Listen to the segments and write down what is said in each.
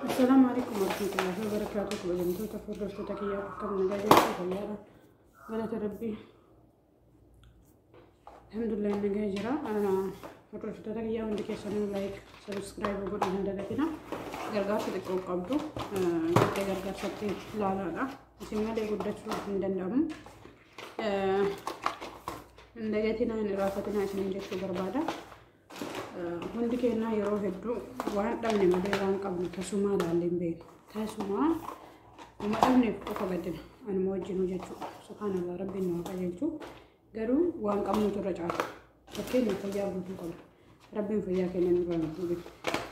Assalamu alaikum warahmatullahi wabarakatuh. Kabajamtoota fi hordoftoota kiyyaa akkam nagaa jirtu fayyaadha. Galata Rabbii. Alhamdulillah nagaa jira. Hordoftoota kiyyaa hundi keessanuu like, subscribe godhuu hin dagatina. Gargaarsa xiqqoo qabdu gattee gargaarsatti ilaalaadha. Isin malee guddachuu hin danda'amu. Hin dagatina hin irraanfatina isiniin jechuu barbaada. Hundi keenyaa yeroo hedduu waan dhabne malee waan qabnu tasumaa ilaallee hin beeknu. Tasumaa nama dhabneef qofa gaddina. Anuma wajjin hojjechuu subhaanallah rabbiin nu haa qajeelchu. Garuu waan qabnutu irra caala. Fakkeenya fayyaa guutuu qabna. Rabbiin fayyaa keenya nurraa hin fuudhin.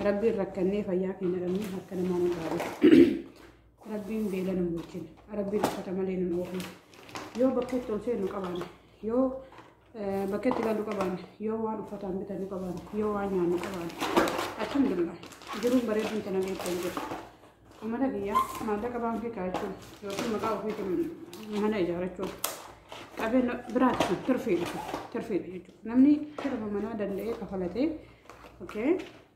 Rabbiin rakkannee fayyaa keenya dhabnee harka namaa nu dhaabee. Rabbiin beela nu bulchin. Rabbiin uffata malee nu oofin. Yoo bakka itti ol seennu qabaanne yoo Bakka itti galu qaban yoo waan uffataan bitanu qaban yoo waan nyaannu qaban alhamdulillah jiruun bareeduun tana beekan jiru. Uummata biyya maallaqa baankii kaachuun yookiin maqaa ofiitiin mana ijaarachuun qabeenya biraati kun tirfiidha tirfiidha jechuudha. Namni sirba manaa danda'ee kafalatee okay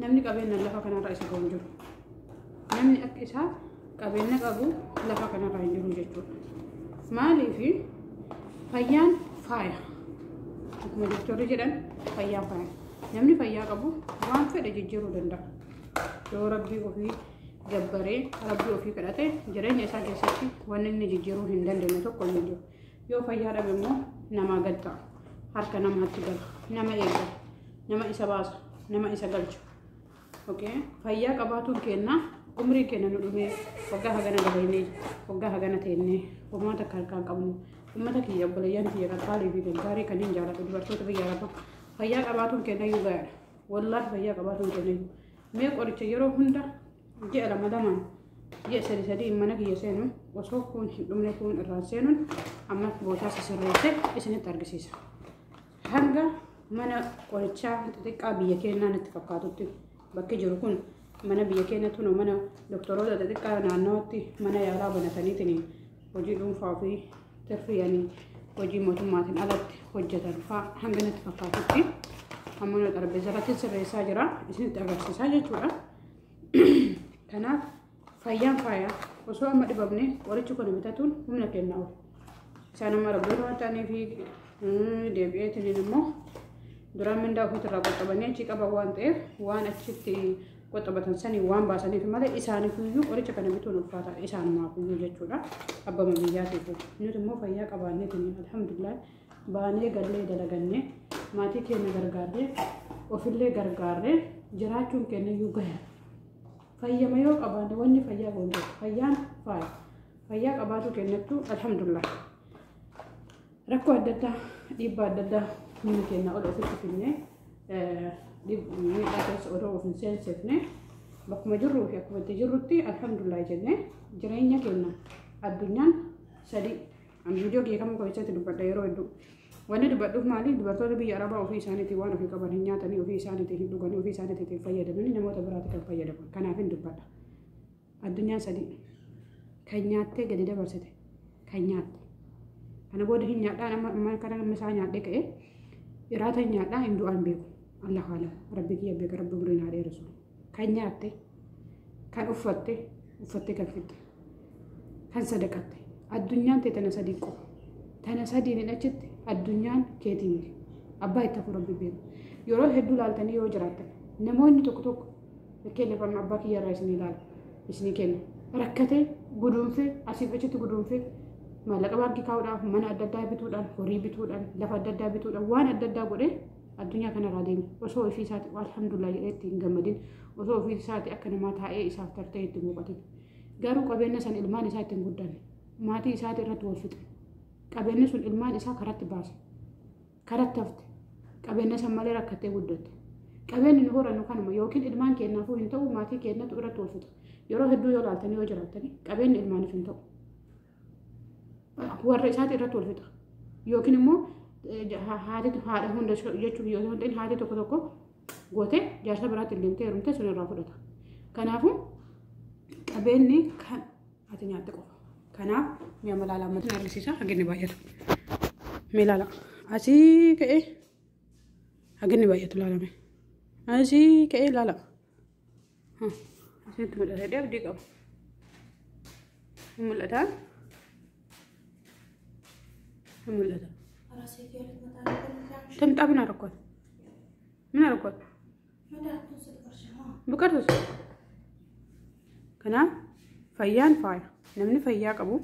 Namni qabeenna lafa kanarra isa ga'u hin jiru. Namni akka isaa qabeenna qabu lafa kanarra hin jiru jechuudha. Maaliif fayyaan faaya. Akkuma doktorri jedhan fayyaan faaya. Namni fayyaa qabu waan fedhe jijjiiruu danda'a. Yoo rabbii ofii gabbaree rabbii ofii kadhate jireenya isaa keessatti wanni inni jijjiiruu hin dandeenye tokko hin jiru. Yoo fayyaa dhabe immoo namaa gad ta'a. Harka namaatti gala. Nama eeggata. nama isa baasu nama isa galchu okay fayyaa qabaatuun keenna umrii keenya nu dhumee waggaa hagana dabalinee waggaa hagana teennee homaa takka harkaan qabnu ummata kiyya obboleeyyan kiyya qaqqaalii fi gaggaarii kanneen jaalatu dubartoota biyya araba fayyaa qabaatuun keenna iyyuu gaariidha wallaahi fayyaa qabaatuun keenna iyyuu mee qoricha yeroo hunda ji'a lama lamaan ji'a sadi sadii mana kiyya seenu osoo kuun hin dhumne kuun irraan seenuun amma bootaa sasirreessee isinitti argisiisa. Hanga mana qorichaa xixiqqaa biyya keenyaa natti fakkaatutti bakki jiru kun mana biyya keenya tunu mana doktoroota xixiqqaa naannawatti mana yaalaa banataniitiin hojii dhuunfaa ofii tirfiyanii hojii mootummaatiin alatti hojjetan fa'aa hanga natti fakkaatutti amma nu xarbeessa irratti sirreessaa jira isinitti agarsiisaa jechuudha. Kanaaf Fayyaan faaya. Osoo amma dhibamne qorichi kun bitatuun humna kenna oolu. Isaan amma rabboota waan ta'aniif deebi'eetiin immoo duraan mindaa ofiitirraa qoxxabanii achi qaban waan ta'eef waan achitti qoxxabatan sanii waan baasaniif malee isaaniif iyyuu qoricha kana bituun ulfaataa isaanumaaf iyyuu jechuudha. Abbama biyyaatiif nuti immoo fayyaa qabaanneetiin alhamdulillah baanee gallee dalagannee maatii keenya gargaarree ofillee gargaarree jiraachuun keenya iyyuu gaheera. Fayyama yoo qabaanne wanni fayyaa goonu jira. Fayyaan faaya. Fayyaa qabaatuu kennattu alhamdulillah. Rakkoo adda addaa dhiibbaa adda addaa humni keenya ol ofitti finne miidhaa keessa odoo of hin seensifne bakkuma jirruu fi akkuma itti jirrutti alhamdulillah jennee jireenya keenya addunyaan sadii Ani viidiyoo kiyya kamuu keessatti dubbadha yeroo hedduu. Wanni dubbadhuuf maali? Dubartoota biyya Arabaa ofii isaaniitiin waan ofii qaban hin nyaatanii, ofii isaaniitiin hin dhuganii, ofii isaaniitiin hin fayyadamanii namoota biraatti kan fayyadaman. Kanaaf hin dubbadha. Addunyaa sadii. Kan nyaattee gadi dabarsite. Kan nyaatte. Kana booda hin nyaadhaa amma amma kana amma isaa nyaadhee ka'ee iraata hin nyaadhaa hin du'aa hin beeku. Allahu alam. Rabbi kiyya beeka rabbi umrii naa dheeressu. kan nyaatte, kan uffatte, uffattee kan fixxe, kan sadaqatte. Addunyaan tee tana sadii qofa. Tana sadiin achitti addunyaan keetii miti. Abbaa itti hafu rabbi beeku. Yeroo hedduu laaltanii yoo jiraattan namoonni tokko tokko fakkeenyaaf amma abbaa kiyya irraa isinii ilaala isinii kenna. Rakkatee guduunfee asiif achitti guduunfee maallaqa baankii kaa'uudhaaf mana adda addaa bituudhaan horii bituudhaan lafa adda addaa bituudhaan waan adda addaa godhee addunyaa kanarraa deeme osoo ofii isaati alhamdulillah jedhee itti hin gammadin osoo ofii isaati akka namaa taa'ee isaaf tartee itti muuqatin garuu qabeenya san ilmaan isaa ittiin guddanne maatii isaati irratti wal fixe qabeenyi sun ilmaan isaa karatti baase karatti hafte qabeenya san malee rakkattee guddatte qabeenyi nu horannu kanuma yookiin ilmaan keenyaafuu hin ta'u maatii keenyatu irratti wal fixe yeroo hedduu yoo laaltanii yoo jiraattanii qabeenyi ilmaaniif hin ta'u. warra isaati irratti wal fixa yookiin immoo haati haadha hunda jechuun yoo ta'u haati tokko tokko gootee jaarsa biraatti hin deemtee heerumtee sun irraa fudhata. Kanaafuu qabeenyi kan ati nyaatte qofa. Kanaaf mi'a malaalaa ammatiin argisiisa haginni baay'atu. Mee ilaala. Asii ka'ee haginni baay'atu ilaalame. Asii ka'ee ilaala. Asitti mul'ata dee abdii qaba. Hin mul'ata. Hin mul'ata. Tamxaa min arkoon. Min arkoon. Buqartus. Kanaaf fayyaan faaya. Namni fayyaa qabu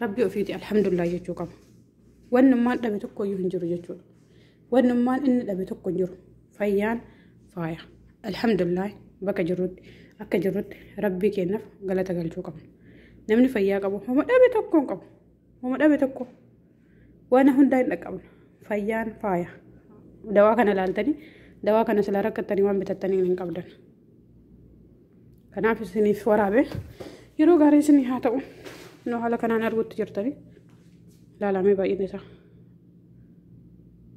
rabbi ofiiti alhamdulillah jechuu qaba. Wannummaan dhabe tokko iyyuu hin jiru jechuudha. Wannummaan inni dhabe tokko hin jiru. Fayyaan faaya. Alhamdulillah bakka jirrutti akka jirrutti rabbii keenyaaf galata galchuu qabna. Namni fayyaa qabu homa dhabe tokko hin qabu. Homa dhabe tokko waan hundaa hin dhaqqabna. Fayyaan faaya. Dawaa kana ilaaltanii dawaa kana silaa rakkattanii waan bitattanii hin qabdan. Kanaaf isiniif waraabe yeroo gaarii isinii haa ta'u. Nu haala kanaan arguutti jirtanii ilaalamee baay'inni isaa.